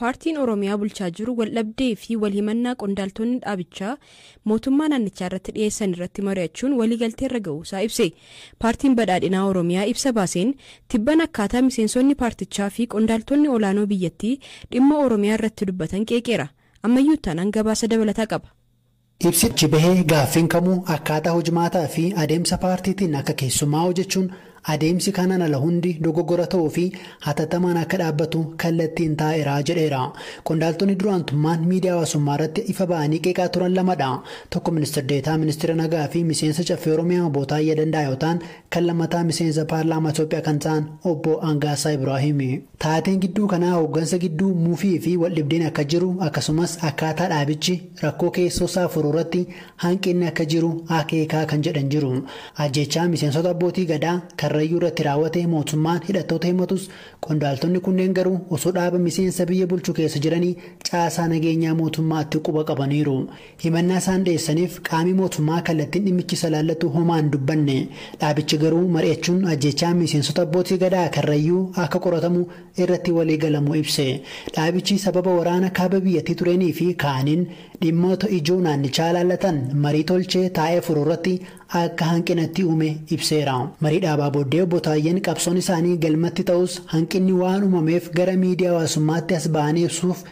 Paartiin Oromiyaa bulchaa jiru waldhabdee fi walhimannaa qondaaltonni dhaabichaa mootummaa naannichaa irratti dhiyeessan irratti mari'achuun waliigaltee irra ga'uusaa ibse. Paartiin Badhaadhinaa Oromiyaa ibsa baaseen tibban akkaataa miseensonni paartichaa fi qondaaltonni olaanoo biyyattii dhimma Oromiyaa irratti dubbatan qeeqeera. Ammayyuu Ittaanaan gabaasa dabalataa qaba. Ibsi achi bahe gaaffiin kamuu akkaataa hojmaataa fi adeemsa paartiitiin akka keessumaa'u jechuun adeemsi kanaan ala hundi dogoggora ta'uu fi hatattamaan akka dhaabbatu kallattiin taa'eera jedheera. Qondaaltonni dura aantummaan miidiyaa hawaasummaa irratti ifa ba'anii qeeqaa turan lama dha. Tokko Ministir Deetaa Ministeera Nagaa fi Miseensa Caffee Oromiyaa Obbo Taayyaa Danda'aa yoo ta'an, kan lammataa Miseensa Paarlaamaa Itoophiyaa kan ta'an Obbo Angaassaa Ibraahimi. Taateen gidduu kanaa hooggansa gidduu mufii fi waldhibdeen akka jiru akkasumas akkaataa dhaabichi rakkoo keessoosaa furuurratti hanqinni akka jiru akeeka kan jedhan jiru. Ajjeechaa miseensota Abbootii Gadaa Karrayyuurratti raawwate mootummaan hidhattoota himatus qondaaltonni kunneen garuu osoo dhaaba miseensa biyya bulchu keessa jiranii caasaa nageenyaa mootummaatti quba qabaniiru. Himannaa isaan dhiyeessaniif qaami mootummaa kallattiin dhimmichi isa ilaallatu homaa hin dubbanne. Dhaabichi garuu mari'achuun ajjeechaan miseensota Abbootii Gadaa Karrayyuu akka qoratamu irratti walii galamuu ibse. Dhaabichi sababa waraana kaaba biyyattii tureenii fi kaaniin dhimmoota ijoo naannichaa ilaallatan marii tolchee taa'ee furu irratti akka hanqina itti uume ibseera. Marii dhaabaa booddee Obbo Taayyeen qabsoon isaanii galmatti ta'us hanqinni waan uumameef gara miidiyaa hawaasummaatti as ba'anii ibsuuf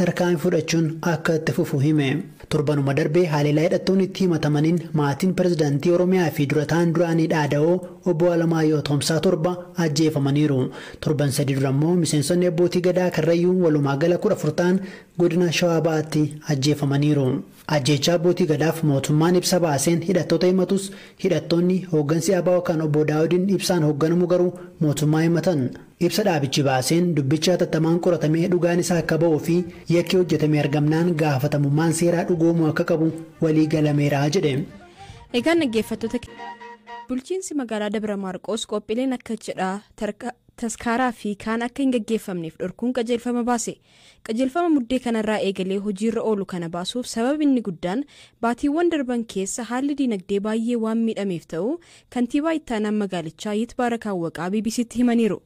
tarkaanfii fudhachuun akka itti fufu hime. Torbanuma darbe haleellaa hidhattoonni itti himatamaniin maatiin pirezidantii Oromiyaa fi dura ta'aan duraanii dhaada'oo Obbo Alamaayyoo Atoomsaa torba ajjeefamaniiru. Torban sadii dura immoo miseensonni Abbootii Gadaa Karrayyuu walumaa gala 14 ta'an godina Shawaa Bahaatti ajjeefamaniiru. Ajjeechaa Abbootii Gadaaf mootummaan ibsa baaseen hidhattoota himatus, hidhattoonni, hooggansi abo kan Obbo Daawudiin Ibsaan hoogganamu garuu mootummaa himatan. Ibsa dhaabichi baaseen dubbichi hatattamaan qoratamee dhugaan isaa akka ba'uu fi yakki hojjetame argamnaan gaafatamummaan seeraa dhugoomuu akka qabu walii galameera jedhe. Egaan dhaggeeffattoota keenya bulchiinsi magaalaa Dabra Maarqoos qophiileen akka cidhaa, taskaaraa fi kaan akka hin gaggeeffamneef dhorkuun qajeelfama baase. Qajeelfama Muddee kanarraa eegalee hojiirra oolu kana baasuuf sabab inni guddaan baatiiwwan darban keessa haalli diinagdee baayyee waan miidhameef ta'uu Kantiibaa Ittaanaan Magaalichaa Yitbaarak Awwaqaa BBC'tti himaniiru.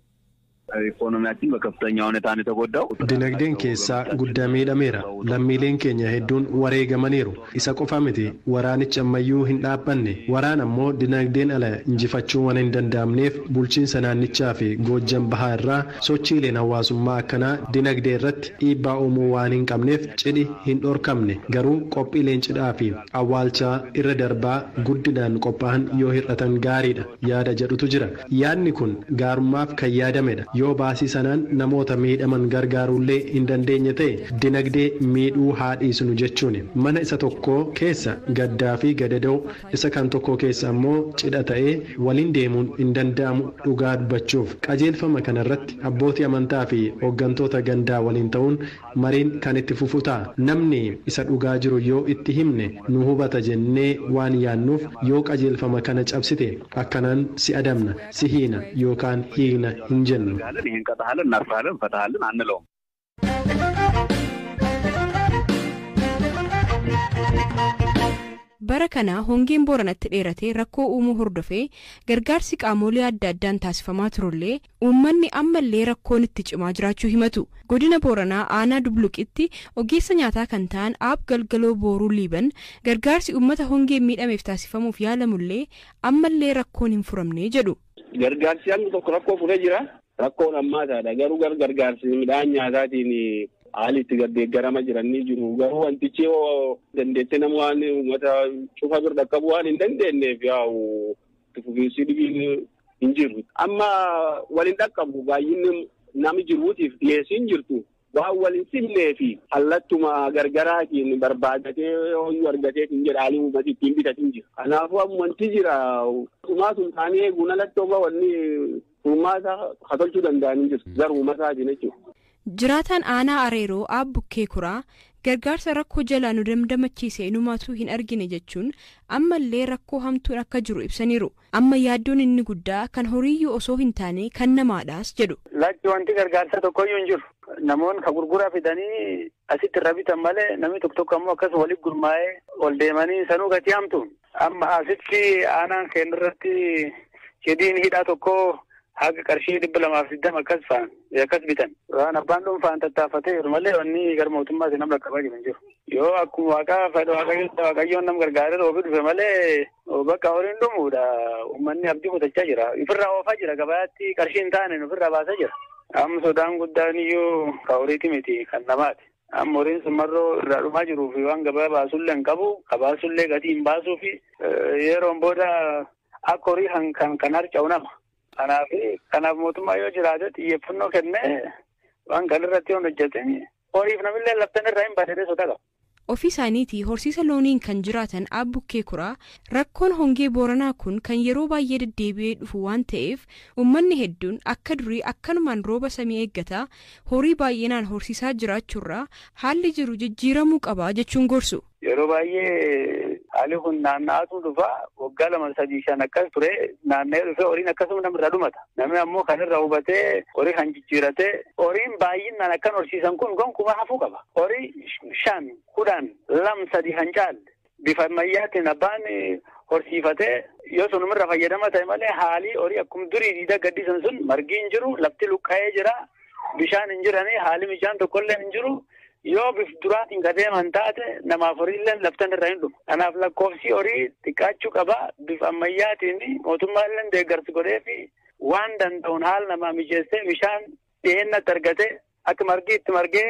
Ikoonomiyaachinn bakaftanya huneta no yetagooddaaw. Dinagdeen keessaa guddaa miidhameera. Lammiileen keenya hedduun wareegamaniiru. Isa qofa miti, waraanichi ammayyuu hin dhaabbanne. Waraan ammoo dinagdeen ala injifachuun waan hin danda'amneef bulchiinsa naannichaa fi Goojjam Bahaa irraa sochiileen hawaasummaa akkanaa dinagdee irratti dhiibbaa uumuu waan hin qabneef cidhi hin dhorkamne. Garuu qophiileen cidhaa fi awwaalchaa irra darbaa guddinaan qophaa'an yoo hir'atan gaariidha. yaada jedhutu jira. Yaadni kun gaarummaaf kan yaadamedha. Yoo baasii sanaan namoota miidhaman gargaaruullee hin dandeenye ta'e dinagdee miidhuu haa dhiisnu jechuuni. Mana isa tokkoo keessa gaddaafi gadadoo, isa kan tokkoo keessa ammoo cidha ta'ee waliin deemuun hin danda'amu dhugaa dubbachuuf. Qajeelfama kanarratti abbootii amantaafi hoggantoota gandaa waliin ta'uun Mariin kan itti fufu ta'a. Namni isa dhugaa jiru yoo itti himne nu hubata jennee waan yaannuuf yoo qajeelfama kana cabsite akkanaan si adabna, si hiina yookaan hiikna hin jennu. Bara kana hongeen Booranatti dheeratee rakkoo uumuu hordofee gargaarsi qaamoolee adda addaan taasifamaa turullee Uummanni ammallee rakkoon itti cimaa jiraachuu himatu. Godina Booranaa aanaa Dubluqitti ogeessa nyaataa kan ta'an Aab Galgaloo Booruu Liiban gargaarsi uummata hongeen miidhameef taasifamuuf yaalamullee ammallee rakkoon hin furamne jedhu. Gargaarsi hangi tokko rakkoo furee jira. Rakkoon hammaataadha. Garuu gara gargaarsi midhaan nyaataatiin haali itti gardeeggarama jiran ni jiru. Garuu wantichi yoo dandeettee nama waan uummata cufa bira dhaqqabu waan hin dandeenyeef yaa'u itti fufiinsi dhibiin hin jiru. Amma wal hin dhaqqabu baay'inni nami jiruutiif dhiyeessiin jirtu waan wal hin simnee fi hallattuma gargaraatiin barbaadatee hooyyuu argatee hin jedha haalli uummati ittiin bitatiin jira. Kanaafuu ammanti jira dhumaa sun taanee eeguun alatti oga wanni uummata hatolchuu danda'anii jiru. Garuu uummataatiin jechuudha. Jiraataan Aanaa Areeroo Aab Bukkee Kuraa, gargaarsa rakkoo jalaa nu damdamachiise inumaatuu hin argine jechuun ammallee rakkoo hamtuun akka jiru ibsaniiru. Amma yaaddoon inni guddaa kan horiiyyuu osoo hin taane kan namaadhaas jedhu. Lakki wanti gargaarsaa tokkoyyuu hin jiru. Namoonni ka gurguraa fidanii asitti irra bitan malee namni tokko tokko ammoo akkas walitti gurmaa'ee ol deemanii sanuu gatii hamtuun. Amma asitti aanaan keenya irratti cidhiin hidhaa tokko haga qarshii dhibba lamaa fi digdama akkas fa'an akkas bitan. Waan abbaan dhuunfaan tattaafatee jiru malee wanni gara mootummaatti nam rakkabaa jiru hin jiru. Yoo akkuma waaqaa fedha waaqayyoon nam gargaaree roobi dhufe malee bakka horiin dhumuudha. Uummanni abdii kutachaa jira. Ofirraa oofaa jira gabaatti qarshii hin taane ofirraa baasaa jira. Amma sodaan guddaan iyyuu ka horiiti miti kan namaati. Amma horiin sun marroo irraa dhumaa jiruu fi waan gabaa baasullee hin qabu. Ka baasullee gatii hin baasuu fi yeroon booda Akka horii kan kan kan harca'u nama. Kanaaf kanaaf mootummaa yoo jiraate xiyyeeffannoo kennee waan kan irratti yoon hojjete horiif namillee laftan irraa hin baadhee sodaa qaba. Ofii isaaniitii horsiisa looniin kan jiraatan Aab Bukkee Kuraa rakkoon hongee Booranaa kun kan yeroo baay'ee deddeebi'ee dhufu waan ta'eef uummanni hedduun akka durii akkanumaan rooba samii eeggataa horii baay'inaan horsiisaa jiraachuurraa haalli jiru jijjiiramuu qaba jechuun gorsu. Yeroo baay'ee haalli kun naanna'aatu dhufa waggaa lama sadii shan akkas ture naanna'ee dhufee horiin akkasuma namirraa dhumata. Namni ammoo kan irraa hubatee horii kan jijjiirate horiin baay'inaan akkan horsiisan kun gonkumaa hafuu qaba. Horii shan kudhan lam sadii kan caalle bifa ammayyaatiin abbaan horsiifatee yoo sunumirra fayyadama ta'e malee haalii horii akkuma durii diida gaddisan sun margi hin jiru lafti luqqa'ee jira bishaan hin jiranii haalli mijaan tokkollee hin jiru. Yoo bif duraatiin ka deeman taate namaaf horiilleen laftan irra hin dhumu. Kanaaf lakkoofsi horii xiqqaachuu qaba. Bif ammayyaatiin mootummaalleen deeggarsi godhee fi waan danda'uun haala namaa mijeessee bishaan dhiyeenyatti argatee akka margi itti margee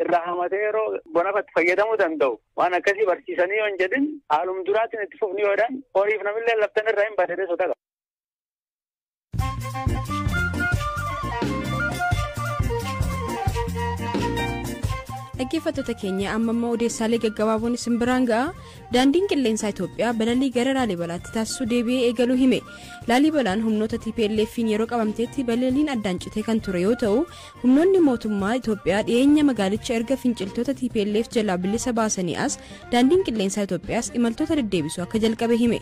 irraa hamatee yeroo bonafatti fayyadamuu danda'u. Waan akkasii barsiisanii yoo hin jedhin haalum duraatiin itti fufni yoo jedhan horiif namillee laftan irra hin badee sodaa qaba. dhaggeeffattoota keenya amma immoo odeessaalee gaggabaaboon isin biraan ga'a daandiin qilleensaa itoophiyaa balalii gara laalibalaatti taasisuu deebi'ee eegaluu hime laalibalaan humnoota tplf'n yeroo qabamteetti balaliin addaan citee kan ture yoo ta'u humnoonni mootummaa itoophiyaa dhiyeenya magaalicha erga finciltoota tplf jalaa bilisa baasanii as daandiin qilleensaa itoophiyaas imaltoota deddeebisuu akka jalqabe hime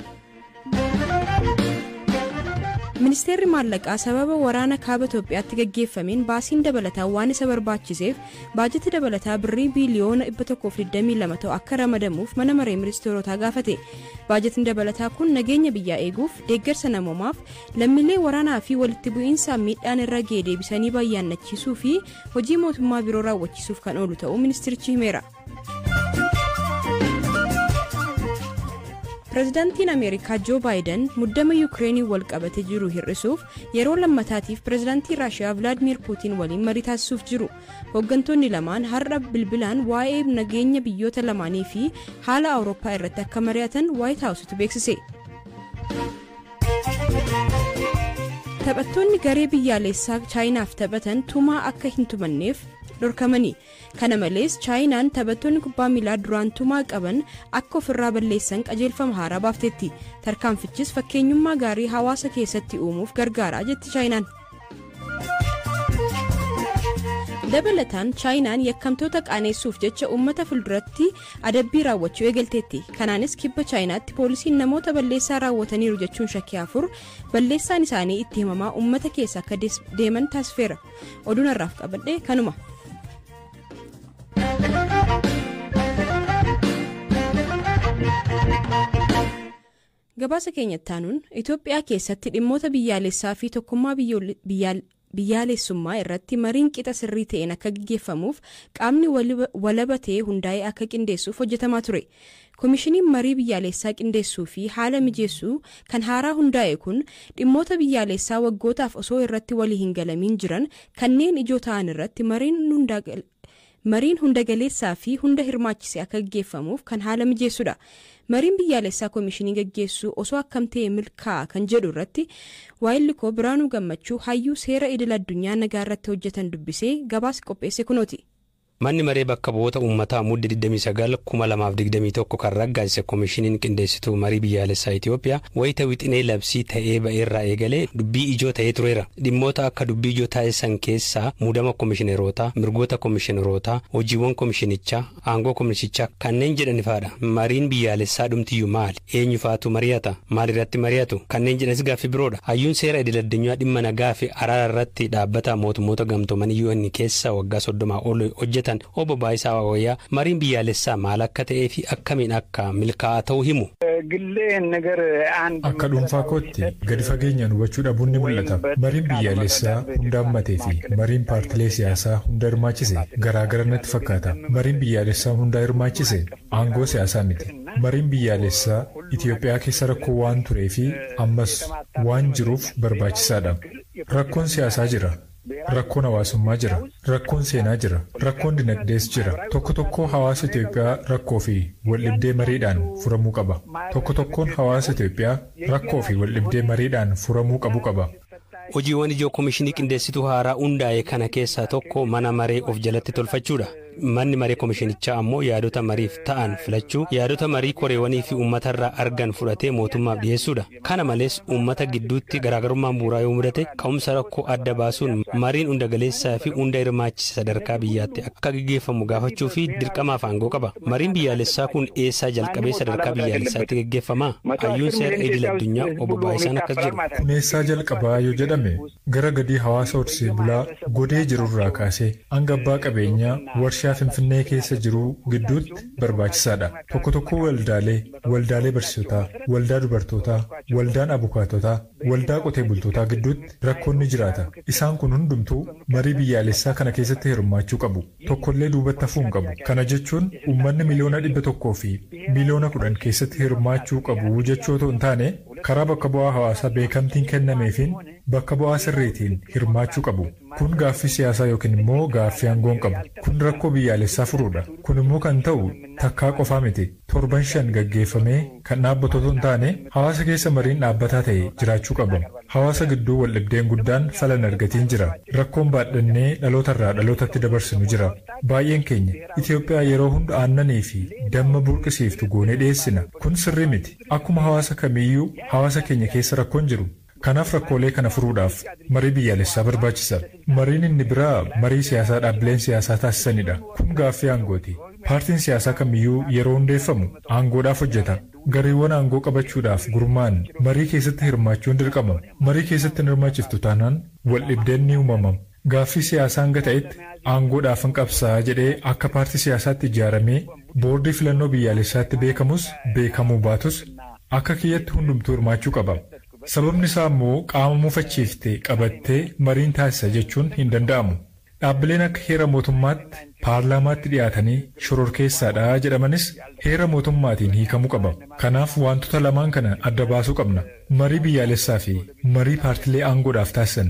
ministeerri maallaqaa sababa waraana kaaba itoophiyaatti gaggeeffameen baasiin dabalataa waan isa barbaachiseef baajata dabalataa birrii biiliyoona 122 ta'u akka ramadamuuf mana maree ministeerotaa gaafate baajatni dabalataa kun nageenya biyyaa eeguuf deeggarsa namoomaaf lammiilee waraanaa fi walitti bu'iinsa miidhaan irra ga'e deebisanii bayyaannachiisuu fi hojii mootummaa biroo raawwachiisuuf kan oolu ta'uu ministeerichi himeera. pirezidaantiin ameerikaa joo baayiden muddama yuukireeniin wal qabate jiru hir'isuuf yeroo lammataatiif pirezidaantii raashiyaa vilaadmiir puutiin waliin marii taasisuuf jiru hooggantoonni lamaan har'a bilbilaan waa'ee nageenya biyyoota lamaanii fi haala awurooppaa irratti akka mari'atan waayit haawusitu beeksise. taphattoonni garee biyyaalessaa chaayinaaf taphatan tumaa akka hin tumanneef dhorkamanii Kana malees Chaayinaan taphattoonni kubbaa miilaa duraan tumaa qaban akka ofirraa balleessan qajeelfama haaraa baafteetti. Tarkaanfichis fakkeenyummaa gaarii hawaasa keessatti uumuuf gargaara jetti Chaayinaan. Dabalataan Chaayinaan yakkamtoota qaaneessuuf jecha uummata fulduratti adabbii raawwachuu eegalteetti. Kanaanis kibba Chaayinaatti poolisiin namoota balleessaa raawwataniiru jechuun shakkii afur balleessaan isaanii itti himamaa uummata keessa akka deeman taasifeera. oduun har'aaf qabadhe kanuma. gabaasa keenya taanuun itoophiyaa keessatti dhimmoota biyyaalessaa fi tokkummaa biyyaalessummaa irratti mariin qixa sirrii ta'een akka gaggeeffamuuf qaamni walaba ta'e hundaa'ee akka qindeessuuf hojjetamaa ture Komishiniin marii biyyaaleessaa qindeessuu fi haala mijeessu kan haaraa hundaa'e kun dhimmoota biyyaaleessaa waggootaaf osoo irratti walii hin galamiin jiran kanneen ijoo ta'an irratti mariin hunda galeessaa fi hunda hirmaachise akka gaggeeffamuuf kan haala mijeessu dha. Mariin biyyaaleessaa komishinii gaggeessuu osoo akkam ta'e milkaa'a kan jedhu irratti waayilli koo Biraanuu Gammachuu hayyuu seera idil addunyaa nagaa irratti hojjetan dubbisee gabaasi qopheesse kunooti. Manni Maree Bakka Bu'oota Ummataa Mudde 29, 2021 kan raggaasise Komishiniin Qindeessituu Marii Biyyaalessaa Itiyoophiyaa wayita wixinee labsii ta'ee ba'erraa eegalee dubbii ijoo ta'ee tureera. Dhimmoota akka dubbii ijoo taasisan keessaa muudama komishinerootaa, mirgoota komishinerootaa, hojiiwwan komishinichaa, aangoo komisichaa kanneen jedhanifaadha. Mariin biyyaalessaa dhumtiyyu maali? Eenyu fa'atu mariyata? Maal irratti mariyatu? Kanneen jedhanis gaaffii biroo dha. Hayyuun seera idil addunyaa dhimma nagaa fi araara irratti dhaabbata mootummoota gamtoomanii UN keessa waggaa 30 ol hojjetan Obbo Baayisaa Waawayyaa mariin biyyaalessaa maal akka ta'ee fi akkamiin akka milkaa'aa ta'u himu. Akka dhuunfaa kootti gadi fageenyaan hubachuu dhabuun ni mul'ata. Mariin biyyaalessaa hunda hammatee fi mariin paartilee siyaasaa hunda hirmaachise garaa gara natti fakkaata. Mariin biyyaalessaa hundaa hirmaachise aangoo siyaasaa miti. Mariin biyyaalessaa Itiyoophiyaa keessa rakkoo waan turee fi ammas waan jiruuf barbaachisaa dha. Rakkoon siyaasaa jira, rakkoon hawaasummaa jira, rakkoon seenaa jira, rakkoon dinagdees jira. Tokko tokkoo hawaasa Itiyoophiyaa rakkoo fi waldhibdee mariidhaan furamuu qaba. Tokko tokkoon hawaasa Itiyoophiyaa rakkoo fi waldhibdee mariidhaan furamuu qabu qaba. Hojiiwwan ijoo Komishinii Qindeessituu haaraa hundaa'e kana keessaa tokko mana maree of jalatti tolfachuudha. Manni maree komishinichaa ammoo yaadota mariif ta'an filachuu, yaadota marii koreewanii fi uummatarraa argan fudhatee mootummaaf dhiyeessuudha. Kana malees uummata gidduutti garaagarummaan bu'uuraa yoo mudate ka'umsa rakkoo adda baasuun mariin hundagaleessaa fi hunda hirmaachise sadarkaa biyyaatti akka gaggeeffamu gaafachuu fi dirqamaaf aangoo qaba. Mariin biyyaalessaa kun eessaa jalqabee sadarkaa biyyaalessaatti gaggeeffama? Hayyuun seera idil addunyaa Obbo Baayisaan akkas jedhu. Kun eessaa jalqabaa yoo jedhame gara gadii hawaasa horsee bulaa godee jirurraa kaasee hanga abbaa qabeenyaa warshaa Finfinnee keessa jiruu gidduutti barbaachisaadha. Tokko tokkoo waldaalee, waldaalee barsiisotaa, waldaa dubartootaa, waldaan abukaatotaa, waldaa qotee bultootaa gidduutti rakkoon ni jiraata. Isaan kun hundumtuu marii biyyaalessaa kana keessatti hirmaachuu qabu. tokkollee duubatti hafuu hin qabu. Kana jechuun uummanni miliyoona dhibba tokkoo fi miliyoona kudhan keessatti hirmaachuu qabu jechuu otoo hin taane, karaa bakka bu'aa hawaasaa beekamtiin kennameefiin bakka bu'aa sirriitiin hirmaachuu qabu. Kun gaaffii siyaasaa yookiin immoo gaaffii aangoo hin qabu. Kun rakkoo biyyaalessaa furuudha. Kun immoo kan ta'u takkaa qofaa miti. torban shan gaggeeffamee kan dhaabbatu otoo hin taane hawaasa keessa mariin dhaabbataa ta'e jiraachuu qaba. Hawaasa gidduu waldhibdeen guddaan fala hin argatiin jira. Rakkoon baadhannee dhaloota irraa dhalootatti dabarsinu jira. Baay'een keenya Itoophiyaa yeroo hunda aannanii fi damma burqisiiftu goonee dhiyeessina. Kun sirrii miti. Akkuma hawaasa kamiiyyuu hawaasa keenya keessa rakkoon jiru. Kanaaf rakkoolee kana furuudhaaf marii biyyaalessaa barbaachisa. Mariin inni biraa marii siyaasaa dhaabbileen siyaasaa taasisanidha. Kun gaaffii aangooti. Paartiin siyaasaa kamiyyuu yeroo hundeeffamu aangoodhaaf hojjeta. Gareewwan aangoo qabachuudhaaf gurmaa'an marii keessatti hirmaachuun dirqama. Marii keessatti hin hirmaachiftu taanaan waldhibdeen ni uumama. Gaaffii siyaasaa hanga ta'etti aangoodhaafan qabsaa'a jedhee akka paartii siyaasaatti ijaaramee boordii filannoo biyyaalessaatti beekamus beekamuu baatus akka kiyyatti hundumtuu hirmaachuu qaba. Sababni isaa ammoo qaama mufachiifte qabattee mariin taasisa jechuun hin danda'amu. Dhaabbileen akka heera mootummaatti paarlaamaatti dhiyaatanii shororkeessaadha jedhamanis heera mootummaatiin hiikamuu qaba. Kanaaf waantota lamaan kana adda baasuu qabna. Marii biyyaalessaafi marii paartilee aangoodhaaf taasisan.